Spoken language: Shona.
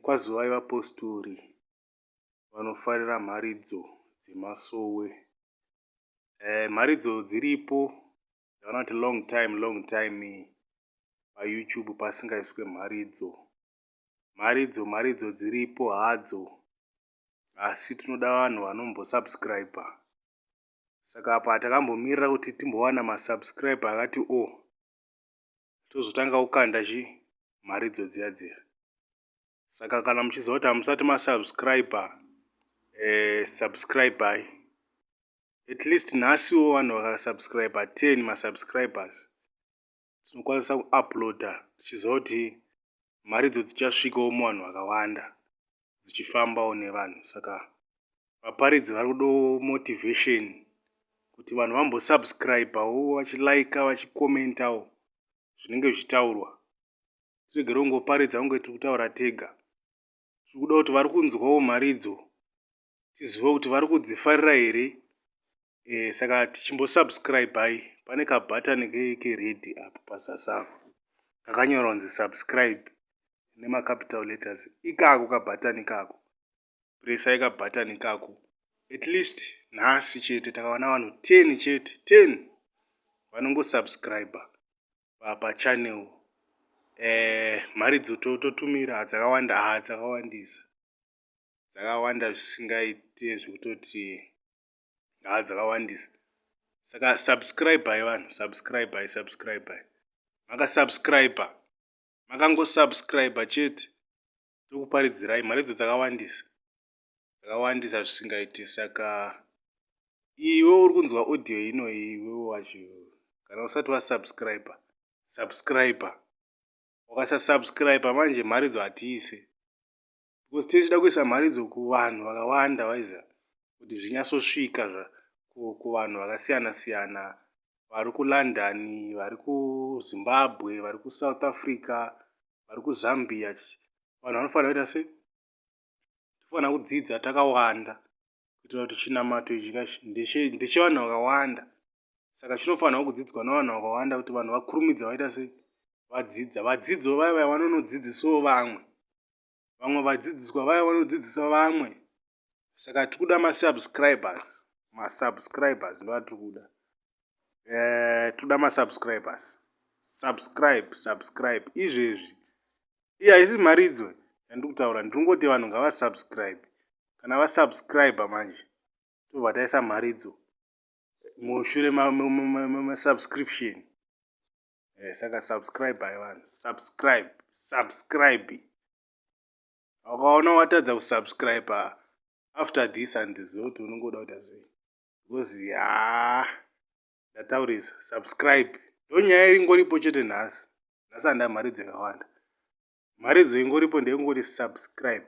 Kwazivai vapositori vanofarira mharidzo dzemasowe. Eh, mharidzo dziripo dzavanoti long time long time paYoutube pasingaiswe mharidzo. Mharidzo mharidzo dziripo hadzo asi tinoda vanhu vanombosubscriber. Saka apa takambomirira kuti timbowana masubscriber akati o. Oh. tozotanga kukanda chi mharidzo dziya dziya saka kana muchiziva kuti hamusati masubscriber eh, subscribai at least nhasiwo vanhu vakasubscriber 10 masubscribers tinokwanisa kuuploada tichiziva kuti mharidzo dzichasvikawo muvanhu vakawanda dzichifambawo nevanhu saka vaparidzi vari kudawo motivation kuti vanhu vambosubscribawo vachilaika vachikomentawo zvinenge zvichitaurwa tiregere kungoparidza kunge tiri kutaura tega tiri kuda kuti vari kunzwawo mharidzo tizive kuti vari kudzifarira here eh, saka tichimbosubscribai pane kabutton keredhi apo pazasi apo kakanyorwa kunzi subscribe nemacapital letters ikako kabutton ikako presai kabutton ikako at least nhasi chete takawana vanhu 10 chete 10 vanongosubscriber pachannel eh, mari dzototumira dzakawanda ha dzakawandisa dzakawanda zvisingaite zvekutoti haa dzakawandisa saka subscribhai vanhu subscribhai subscribhai makasubscribha makangosubscribha chete tokuparidzirai mari idzo dzakawandisa dzakawandisa zvisingaite saka iwe uri kunzwa audio ino iwe wacho kana usati wasubscribha subscribha wakasasubscribha manje mari idzo hatiise because tinenge tichida kuisa mharidzo kuvanhu vakawanda waiza kuti zvinyatsosvika kuvanhu vakasiyana siyana vari kulondon vari kuzimbabwe vari kusouth africa vari kuzambia vanhu vanofanira kuita sei tofanira kudzidza takawanda kuitira kuti chinamato ichi ndechevanhu vakawanda saka chinofanirwa kudzidzwa navanhu vakawanda kuti vanhu vakurumidza vaita se vadzidza vadzidzo vaya vaya vanonodzidzisawo vamwe vamwe vadzidziswa vaya vanodzidzisa vamwe saka tiri kuda masubscribers masubscribers ndo atiri kuda eh, tiri kuda masubscribers subscribe subscribe izvezvi iye haisi mharidzo yandiri kutaura ndiri kungoti vanhu ngavasubscribe kana vasubscribe manje tobva taisa mharidzo mushure masubscription eh, saka subscribe hai vanhu subscribe subscribe ukaona watadza kusubscribe after this andiziva kuti unongoda kuita sei because ya ndataurisa subscribe ndonyaya iringoripo chete nhasi nhasi handamharidzo yakawanda mharidzo ingoripo ndeyekungoti subscribe